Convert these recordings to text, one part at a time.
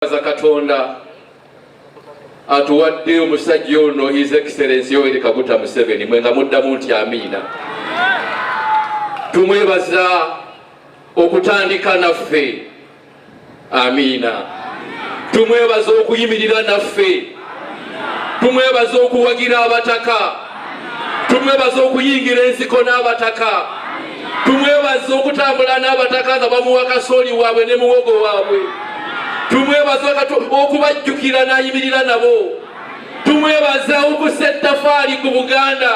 Baza Katonda atuwadde omusajja ono His Excellency Yoweri Kaguta Museveni mwe nga muddamu nti amiina. Tumwebaza okutandika naffe amiina. Tumwebaza okuyimirira naffe. tumwebaza okuwagira abataka tumwebaza okuyingira ensiko n'abataka tumwebaza okutambula n'abataka nga bamuwa kasooli waabwe ne muwogo waabwe tumwebaza okubajjukira n'ayimirira nabo tumwebaza okusa ettafaali ku buganda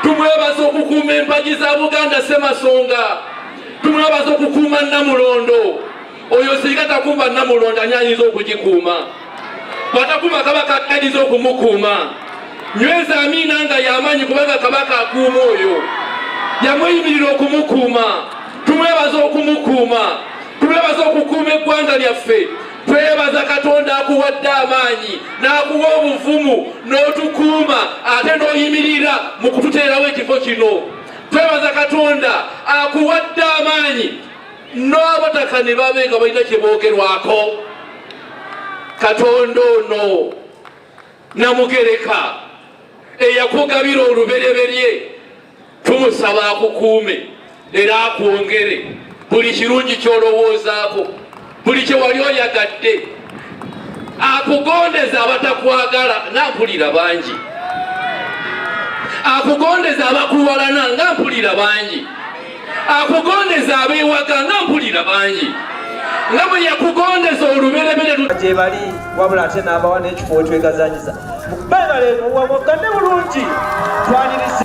tumwebaza okukuuma empagi za buganda semasonga tumwebaza okukuuma namulondo oyo singa takuuma namulondo ani ayinza okugikuuma bwatakuuma kabaka ayinza okumukuuma nyweza amiina nga yamaanyi kubanga kabaka akuuma oyo yamweyimirira okumukuuma tumwebaza okumukuuma tumwebaza okukuuma eggwanga lyaffe twebaza katonda akuwadde amaanyi n'akuwa obuvumu n'otukuuma ate n'oyimirira mu kututeerawo ekifo kino twebaza katonda akuwadde amaanyi n'abataka ne babe nga balina kye boogerwako katonda ono namugereka eyakugabira olubereberye tumusaba akukuume era akwongere buli kirungi kyolowoozaako buli kyewali oyagadde akugondeza abatakwagala nga mpulira bangi akugondeza abakuwalana nga mpulira bangi akugondeza abeewaka nga mpulira bangi nga bwe yakugondeza oluberebere gye bali wabula ate n'abawa n'ekifo wetwegazanyiza bebale muwamugane bulungi twaniriza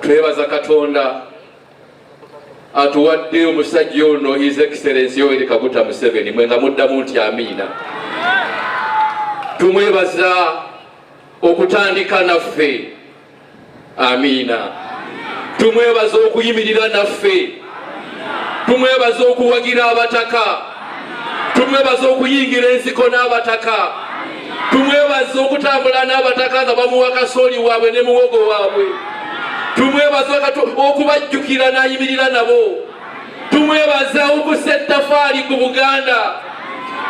twebaza katonda atuwadde omusajja ono his excellence yoweri kaguta museveni mwe nga muddamu nti amiina tumwebaza okutandika naffe amiina tumwebaza okuyimirira naffe tumwebaza okuwagira abataka tumwebaza okuyingira ensiko n'abataka tumwebaza okutambula n'abataka nga bamuwa kasooli waabwe ne muwogo waabwe tumwebaza okubajjukira n'ayimirira nabo tumwebaza okusa ettafaali ku buganda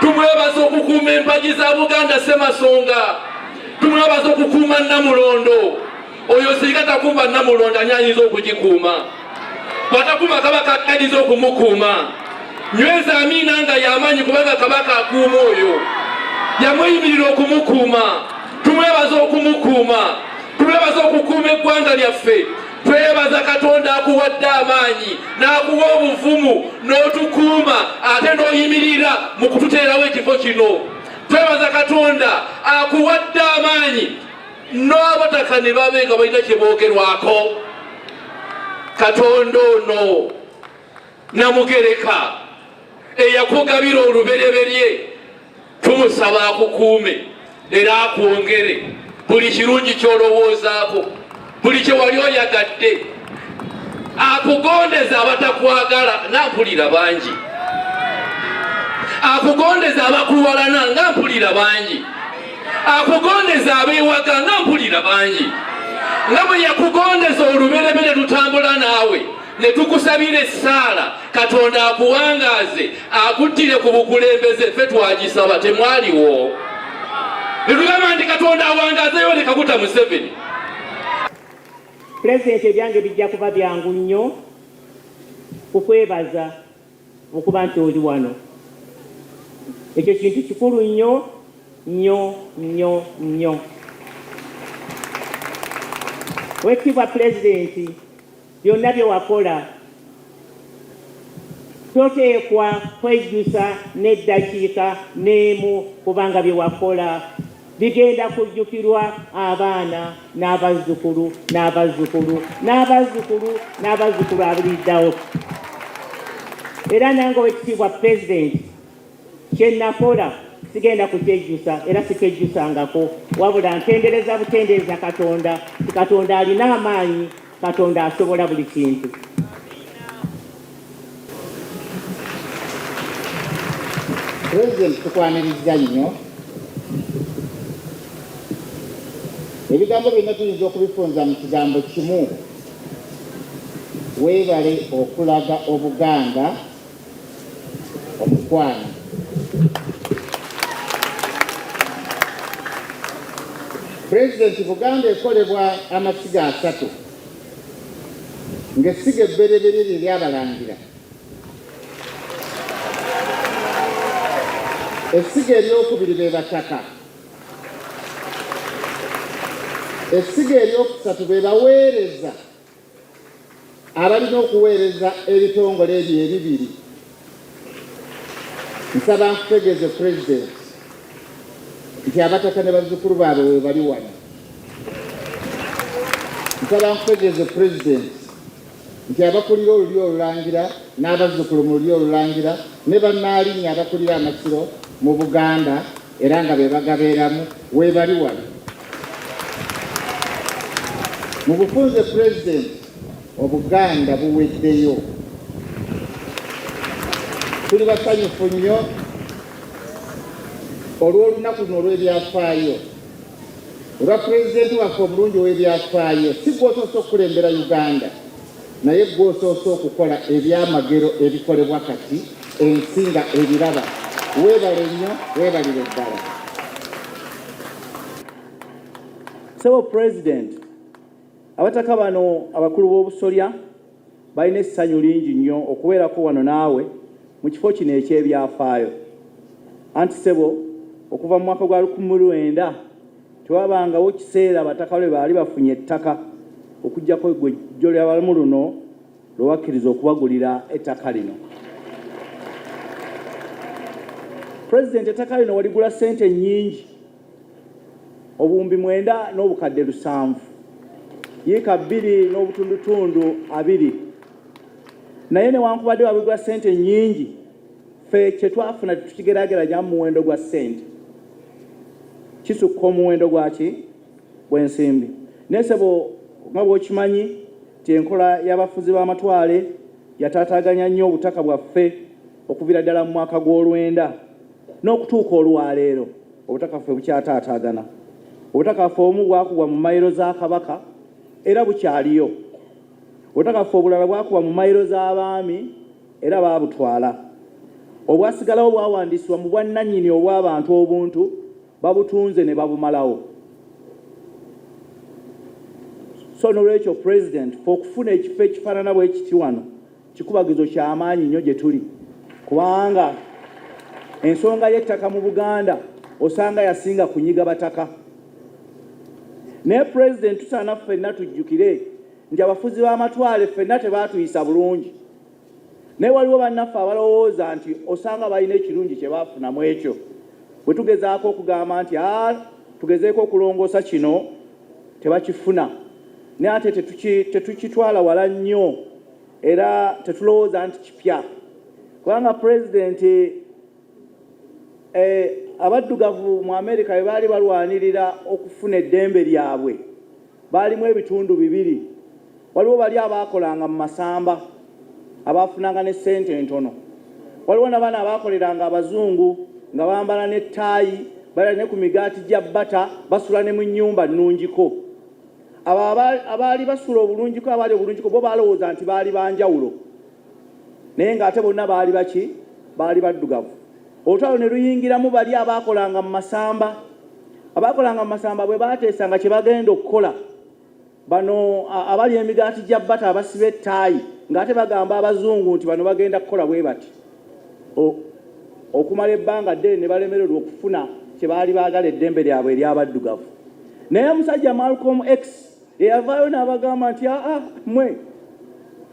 tumwebaza okukuuma empagi za buganda semasonga tumwebaza okukuuma namulondo oyo singa takuuma namulondo ani ayinza okugikuuma bwatakuuma kabaka ayinza okumukuuma nyweza amiina nga yamaanyi kubanga kabaka akuuma oyo yamuyimirira okumukuuma tumwebaza okumukuuma tumwebaza okukuuma eggwanga lyaffe twebaza katonda akuwadde amaanyi n'akuwa obuvumu n'otukuuma ate n'oyimirira mu kututeerawo ekifo kino twebaza katonda akuwadde amaanyi n'abataka ne babe nga balina kye boogerwako katonda ono namugereka eyakugabira olubereberye tumusaba akukuume era akwongere buli kirungi kyolowoozaako buli kye wali oyagadde akugondeza abatakwagala nga mpulira bangi akugondeza abakuwalana nga mpulira bangi akugondeza abeewaga nga mpulira bangi nga bwe yakugondeza oluberebere lutambula naawe ne tukusabira essaala katonda akuwangaaze akuttire ku bukulembeze ffe twagisaba temwaliwo ne tugamba nti katonda awangaazeyo ne kaguta museveni pulezidenti ebyange bijja kuba byangu nnyo kukwebaza okuba nti oli wano ekyo kintu kikulu nnyo nnyo nnyo nnyo wekitibwa pulezidenti Byonna bye wakola toteekwa kwejjusa n'eddakiika n'emu kubanga bye wakola bigenda kujjukirwa abaana n'abazzukulu n'abazzukulu n'abazzukulu n'abazzukulu abuliriddawo era nange owekitiibwa pulezidenti kye nakola sigenda kukyejjusa era sikyejjusangako wabula ntendereza butendereza katonda katonda alina amaanyi Katonda asobola buli kintu. President tukwanirizza nnyo. Ebigambo byonna tuyinza okubifunza mu kigambo kimu, weebale okulaga Obuganda omukwano pulezidenti buganda ekolebwa amasiga asatu ng'essiga ebbereberye lye lyabalangira essiga eryokubiri be bataka essiga eryokusatu be baweereza abalina okuweereza ebitongole ebyo ebibiri nsaba nkutegeeze pulezidenti nti abataka ne bazzukulu baabwe we bali wano nsaba nkutegeeze pulezidenti nti abakulira olulyo olulangira n'abazzukulu mu lulyo olulangira ne bannaalinya abakulira amasiro mu buganda era nga be bagabeeramu weebali wano mu bufunze pulezidenti obuganda buweddeyo tuli basanyufu nnyo olw'olunaku luno olw'ebyafaayo olwa pulezidenti waffe omulungi ow'ebyafaayo si gwosoose okukulembera uganda Naye ggwe osoose okukola ebyamagero ebikolebwa kati ensi nga ebiraba. Weebale nnyo, weebalire ddala. Sebo President, abataka bano abakulu b'obusolya balina essanyu lingi nnyo okubeerako wano naawe mu kifo kino eky'ebyafaayo. Anti sebo okuva mu mwaka gwa lukumi lwenda Tewabangawo kiseera abataka lwe baali bafunye ettaka okuggyako eggwejjo ly'abalmu luno lwe wakkiriza okubagulira ettaka lino. Pulezidenti ettaka lino waligula ssente nnyingi obuwumbi mwenda n'obukadde lusanvu yiika bbiri n'obutundutundu abiri naye newankubadde wabigula ssente nnyingi ffe kye twafuna tukigeraageranya mu muwendo gwa ssente kisukka omuwendo gwaki bw'ensimbi naye sebo nga bw'okimanyi nti enkola y'abafuzi b'amatwale yataataaganya nnyo obutaka bwaffe okuviira ddala mu mwaka gw'olwenda n'okutuuka olwaleero obutaka ffe bukyataataagana obutaka ffe obumu bwakubwa mu mayiro za kabaka era bukyaliyo obutaka ffe obulala bwakubwa mu mayiro z'abaami era baabutwala. Obwasigalawo bwawandiisibwa mu bwannannyini obw'abantu obuntu babutunze ne babumalawo. So n'olwekyo Pulezidenti ffe okufuna ekifo ekifaanana bwe kiti wano kikubagizo kya maanyi nnyo gye tuli kubanga ensonga y'ettaka mu Buganda osanga yasinga kunyiga bataka. Naye Pulezidenti tusaana ffenna tujjukire nti abafuzi b'amatwale ffenna tebaatuyisa bulungi. naye waliwo bannaffe abalowooza nti osanga balina ekirungi kye baafuna mu ekyo bwe tugezaako okugamba nti a tugezeeko okulongoosa kino tebakifuna naye ate tetukitwala wala nnyo era tetulowooza nti kipya kubanga pulezidenti eh, abaddugavu mu Amerika bwe baali balwanirira okufuna eddembe lyabwe baalimu ebitundu bibiri. Waliwo bali abaakolanga mu masamba abaafunanga ne ssente entono, waliwo nabano abaakoleranga abazungu nga bambala ne ttaayi, balya ne ku migaati gya bata, basula ne mu nnyumba nnungiko. Abo abaali basula obulungiko abaali obulungiko bo baalowooza nti baali banjawulo. naye ng'ate bonna baali baki baali baddugavu olutalo ne luyingiramu bali abaakolanga mu masamba abaakolanga mu masamba bwe baateesanga kye bagenda okukola bano abali emigaati gya bata abasiba ettaayi ng'ate bagamba abazungu nti bano bagenda kukola bwe bati okumala ebbanga ddene ne balemererwa okufuna kye baali baagala eddembe lyabwe ery'abaddugavu naye musajja malcom x eyavaayo n'abagamba nti aa mwe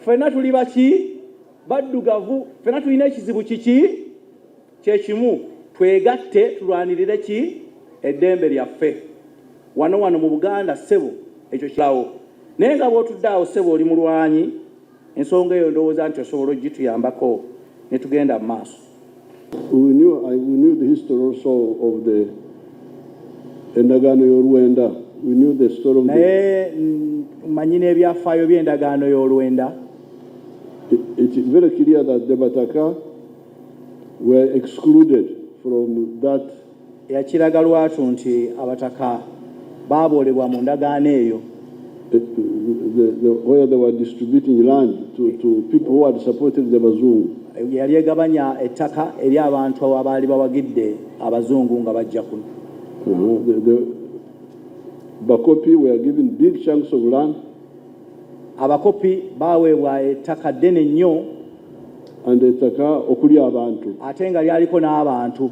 ffenna tuli baki baddugavu ffenna tulina ekizibu kiki kyekimu twegatte tulwanirire ki eddembe lyaffe wano wano mu buganda ssebo ekyo kilawo naye nga bwotudde awo ssebo oli mulwanyi Ensonga eyo ndowooza nti osobola okugituyambako ne tugenda mu maaso. We knew, I, we knew the history also of the endagaano y'olwenda. We knew the story of the, naye mm, manyi n'ebyafaayo by'endagaano y'olwenda it, it is very clear that the Bataka were excluded from that Yakiraga lwatu nti abataka baaboolebwa mu ndagaano eyo. The, the, the, where they were distributing land to, to people who had supported the Bazungu. Yali egabanya ettaka eri abantu abaali bawagidde abazungu nga bajja kuno. Uh-huh. Bakopi were given big chunks of land. Abakopi baweebwa ettaka ddene nnyo. And ettaka okuli abantu. Ate nga lyaliko n'abantu.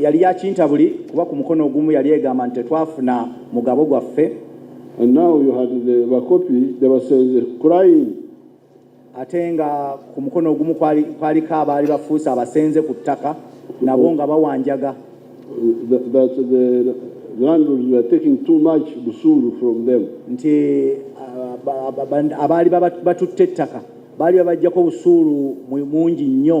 yali yakintabuli kuba ku mukono ogumu yali egamba nti tetwafuna mugabo gwaffe And now you had the Bakopi, they were saying, crying. ate nga ku mukono ogumu kwaliko abaali bafuuse abasenze ku ttaka nabo nga bawanjaga nti abaali batutte ettaka baali babajjako busuulu mungi nnyo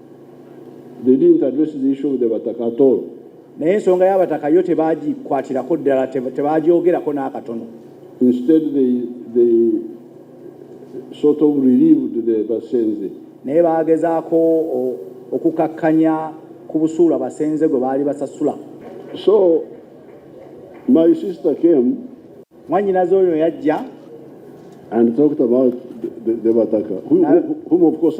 They didn't address the issue of the Bataka at all. Naye ensonga y'abataka yo tebagikwatirako ddala, tebagyogerako n'akatono. Instead they, they sort of relieved the Basenze. Naye baagezaako okukakkanya ku busuulu abasenze gwe baali basasula. So my sister came. Mwannyinaze oyo yajja. And talked about the, the, the Bataka, whom, whom of course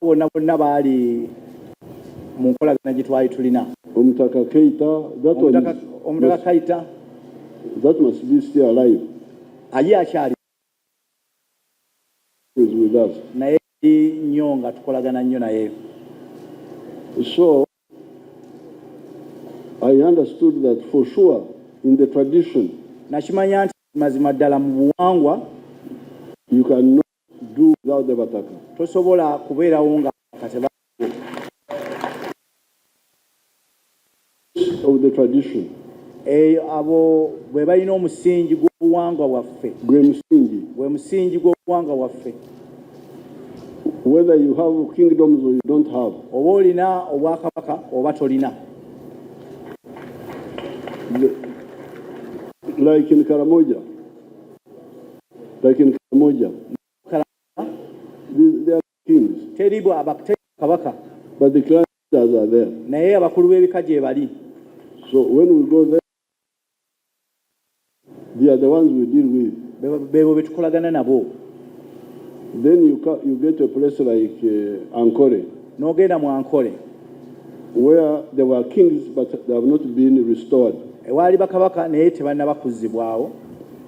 bonna bonna baali mu nkolagana gye twali tulina omutaka keita omutaka kaita that must be still alive aye akyali naye nnyo nga tukolagana nnyo naye so i understood that for sure in the tradition nakimanya nti mazima ddala mu buwangwa you can know do without the bataka tosobola kubeerawo nga kateba of the tradition eyo eh, abo bwe balina omusingi gw'obuwangwa bwaffe gwe musingi gwe musingi gw'obuwangwa bwaffe whether you have kingdoms or you don't have oba olina obwakabaka oba tolina like in karamoja Lakini kila moja teri kabaka but the clan leaders are there naye abakulu b'ebika gyebali so when we go there they are the ones we deal with bebo betukolagana nabo then you, you get a place like uh, Ankole nogenda mu Ankole where there were kings but they have not been restored ewaali bakabaka naye tebannaba kuzzibwawo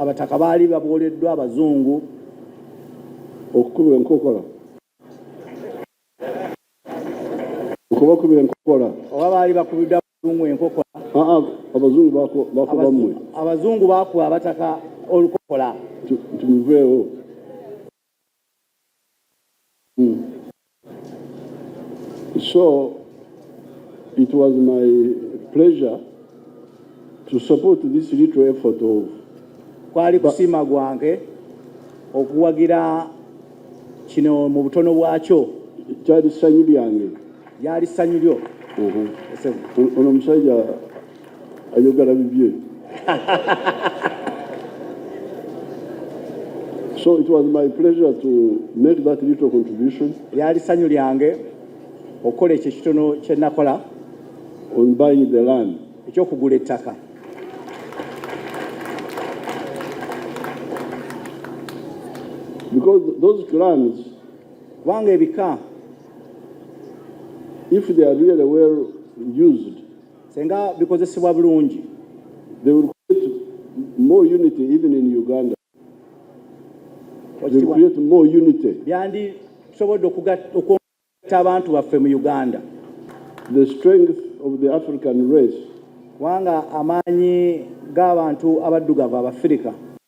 abataka baali babwoleddwa abazungu okukubwa enkokola okubakubira enkokola oba baali bakubidde abazungu enkokola abazungu bakuba abataka olukokola tubiveewo Mm. So it was my pleasure to support this little effort of kwali kusima gwange okuwagira kino mu butono bwakyo kyali ssanyu lyange lyali ssanyu lyo ono omusajja ayogala bibye so it was my pleasure to make that little contribution lyali sanyu lyange okukola ekyo ekitono kyenakola on buying the land ekyokugula ettaka because those clans kubanga ebika if they are really well used Senga bikozesebwa bulungi. They will create more unity even in Uganda. They will create more unity. Byandi tusobodde okugatta abantu baffe mu Uganda. The strength of the African race. Wanga amaanyi g'abantu abaddugavu abafirika.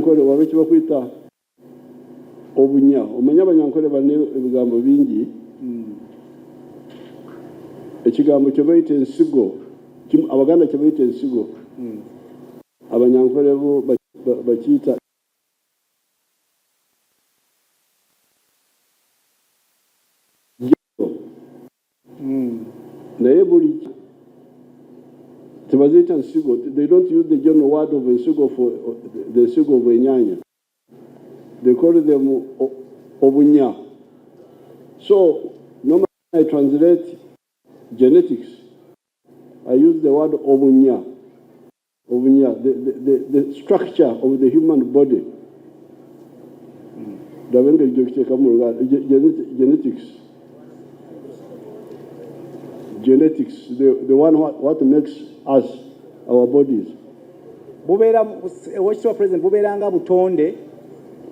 nkole waba ekibakwita obunya omanya abanyankole bane ebigambo bingi hmm. ekigambo kyebayita ensigo abaganda kyebayita ensigo hmm. abanyankole bo bakiyita Hmm. naye buli tebaziyita nsigo they don't use the general word of ensigo for the nsigo of enyanya they call them obunya so normally i translate genetics i use the word obunya Obunya, the, the, the, the structure of the human body ndaba engeri gyokiteeka mu luganda genetics genetics the, the one what, what makes us our bodies bubeera owekitiibwa president bubeeranga butonde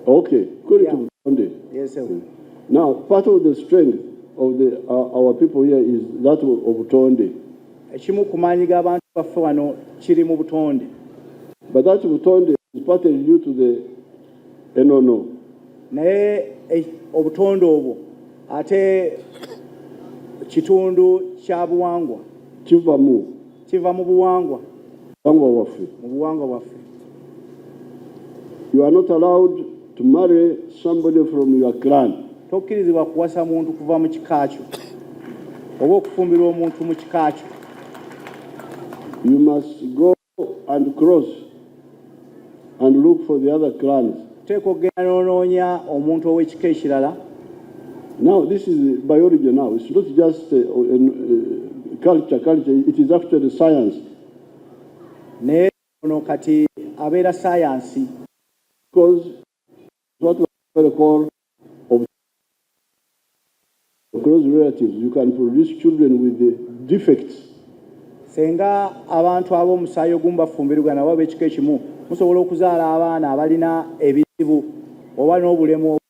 okay kuli yeah. butonde yes, sir. now part of the strength of the, uh, our people here is that of butonde Ekimu ku maanyi g'abantu baffe wano kiri mu butonde. But that butonde is partly due to the enono. Naye eh, obutonde obwo ate kitundu kya buwangwa. Kiva mu. Kiva mu buwangwa. Buwangwa bwaffe. Mu buwangwa bwaffe. You are not allowed to marry somebody from your clan. Tokkirizibwa kuwasa muntu kuva mu kika kyo oba okufumbirwa omuntu mu kika kyo. You must go and cross and look for the other clans. Teeka okugenda n'onoonya omuntu ow'ekika ekirala. Now this is biology now. It's not just a, a, a culture, culture. It is actually science. Ne Ono kati abeera ssaayansi. Ssenga abantu ab'omusaayi ogumu bafumbirigana oba ab'ekika ekimu musobola okuzaala abaana abalina ebizibu oba n'obulemu obumu.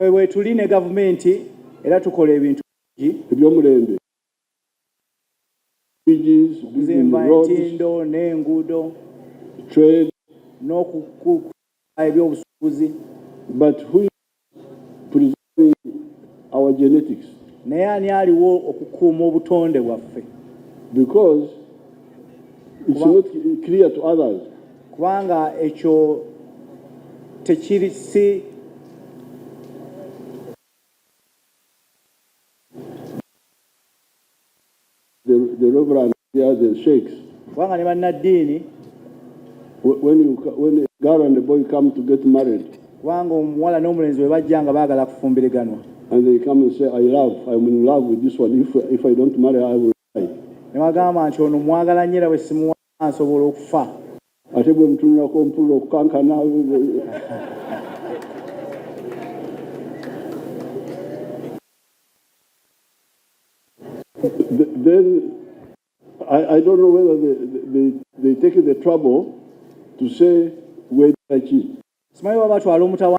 Ffe weetuli ne gavumenti era tukola ebintu bingi. Eby'omulembe, bridges, building roads, trade, but who is preserving our genetics? Naye ani aliwo okukuuma obutonde bwaffe? Because it's not clear to others. kubanga ekyo tekiri si kubanga ne bannaddiini kubanga omuwala n'omulenzi bwe bajja nga baagala kufumbiriganwa ne bagamba nti ono mwagala nyo era bwe simuwa asobola okufa. Ate bwe mutunulako mpulira okukankana. Then I, I don't know whether they, they, they take the trouble to say where Smile wabatwala omutawa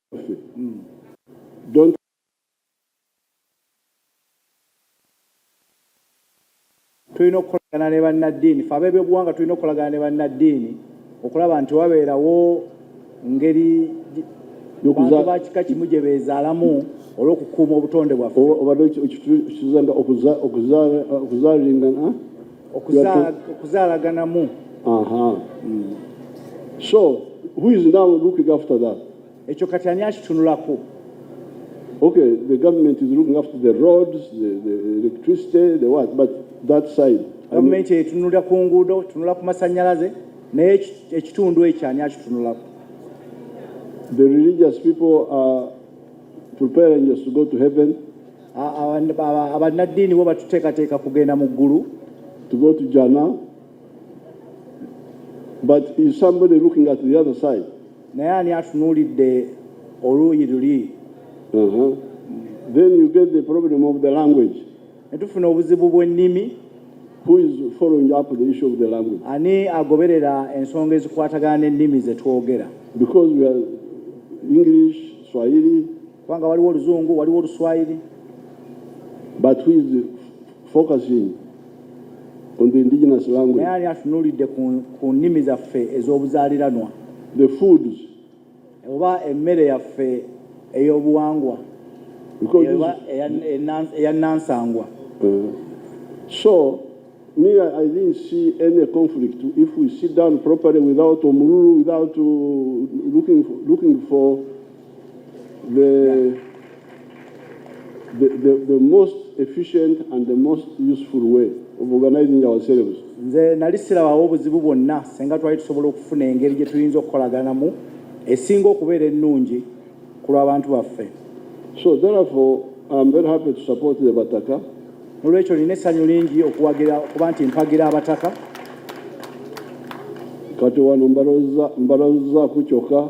Don't tulina okukolagana ne bannaddiini fe ab'ebyobuwanga tulina okukolagana ne bannaddiini okulaba nti wabeerawo ngeri bantu ba kika kimu gye beezaalamu olw'okukuuma obutonde bwaffe obadde okizanga okuzaalingana okuzaalaganamu hmm. so who is now looking after that ekyo kati ani akitunulako okay the government is looking after the roads the, the electricity the what but that side gavumenti etunula ku nguudo tunula ku masanyalaze naye ekitundu ekyo ani akitunulako the religious people are preparing us to go to heaven abannaddiini bo batuteekateeka kugenda mu ggulu to go to Jannah but is somebody looking at the other side naye ani atunuulidde oluuyi luli uh-huh. then you get the problem of the language ne tufuna obuzibu bw'ennimi who is following up the issue of the language ani agoberera ensonga ezikwatagana n'ennimi ze twogera because we are english swahili kubanga waliwo oluzungu waliwo oluswayiri but who is focusing on the indigenous language naye ali atunulidde ku nnimi zaffe ez'obuzaaliranwa the foods oba emmere yaffe ey'obuwangwa eya nansangwa uh, so me i didn't see any conflict if we sit down properly without omululu without uh, looking for, looking for The, the, the, the most efficient and the most useful way of organizing ourselves. Nze nali sirabawo obuzibu bwonna senga twali tusobola okufuna engeri gye tuyinza okukolaganamu esinga okubeera ennungi ku lw'abantu baffe. So therefore I am very happy to support the Bataka. Nolwekyo nina essanyu lingi okuwagira okuba nti mpagira abataka. Kati wano mbalozza mbalozza ku kyokka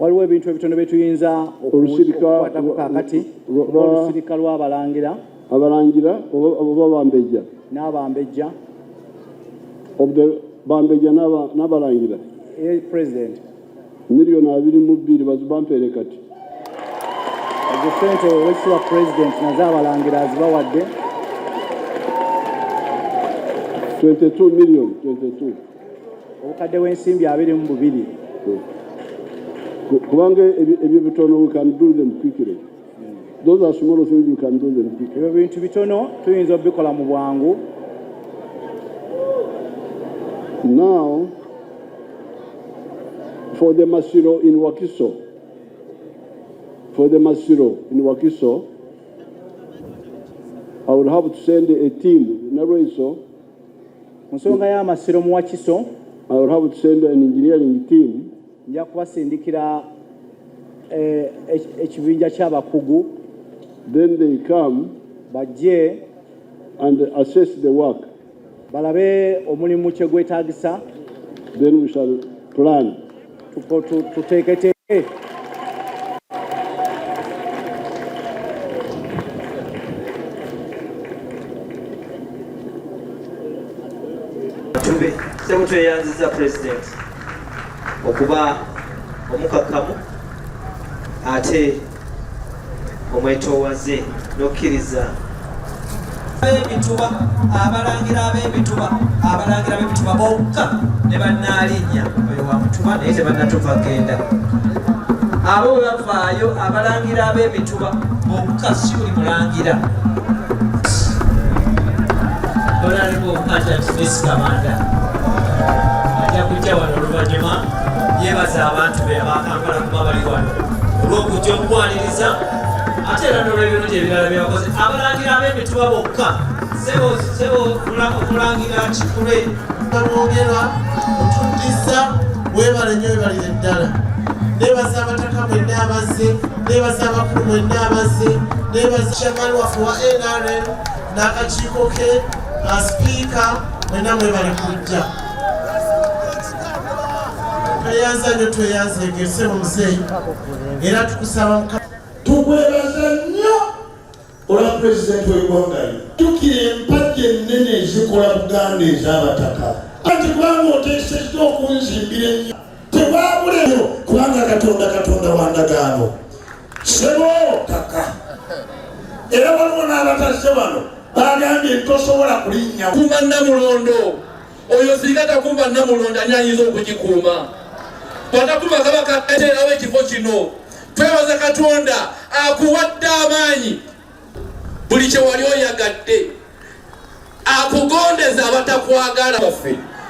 waliwo ebintu ebitono bye tuyinza okukwatako kakati olusirika lw'abalangira abalangira oba bambejja n'abambejja bambejja n'abalangira eh, president Million abiri mu bbiri bazibampere kati. Ezo sente owekitiibwa President nazo abalangira azibawadde. 22 million 22. Obukadde bw'ensimbi abiri mu bubiri. Kubanga ebyo bitono we can do them quickly. ebyo bintu bitono tuyinza obikola mu bwangu now for the masiro in wakiso for the masiro in wakiso i would have to send a team nalwaiso mu nsonga y'amasiro mu wakiso i would have to send an engineering team nja kubasindikira eh, ekibinja ky'abakugu then they come bajje and assess the work balabe omulimu kye gwetaagisa then we shall plan tuteeketeeke Thank you. okuba omukakamu ate omwetowaze n'okkiriza bebituba abalangira abebituba abalangira bebituba bokka ne bannaalinya oyo wa mutuba naye tebanatuva genda abo bebavaayo abalangira abebituba yebaza abantu be abakampala kuba bali wano olwokujja omukwaniriza ate era nolwebirungi ebirala byebakoze abalangira ab'emituba bokka sebokulangira kikule olwogera otuddiza webale nyo webalire ddala nebaza abataka mwenna abazze nebaza abakulu mwenna abazze nebaza chairman waffe wa nrm n'akakiiko ke asipiika mwenna mwebale kujja tweyanza nyo tweyanza egese omuzeeyi era tukusaba mukama tukwebaza olwa pulezidenti w'eggwanga lino tukira empagi ennene ezikola buganda ez'abataka anti kubanga oteesezza okunzimbira ennyo tewabuleo kubanga katonda katonda wa ndagaano sebo kaka era waliwo n'abatazze wano bagambye nti tosobola kulinnya kuma namulondo oyo singa takuba namulonda ani ayinza okugikuuma bwatakuba kabaka ateerawo ekifo kino twebaza katonda akuwadde amaanyi buli kyewali oyagadde akugondeza abatakwagala baffe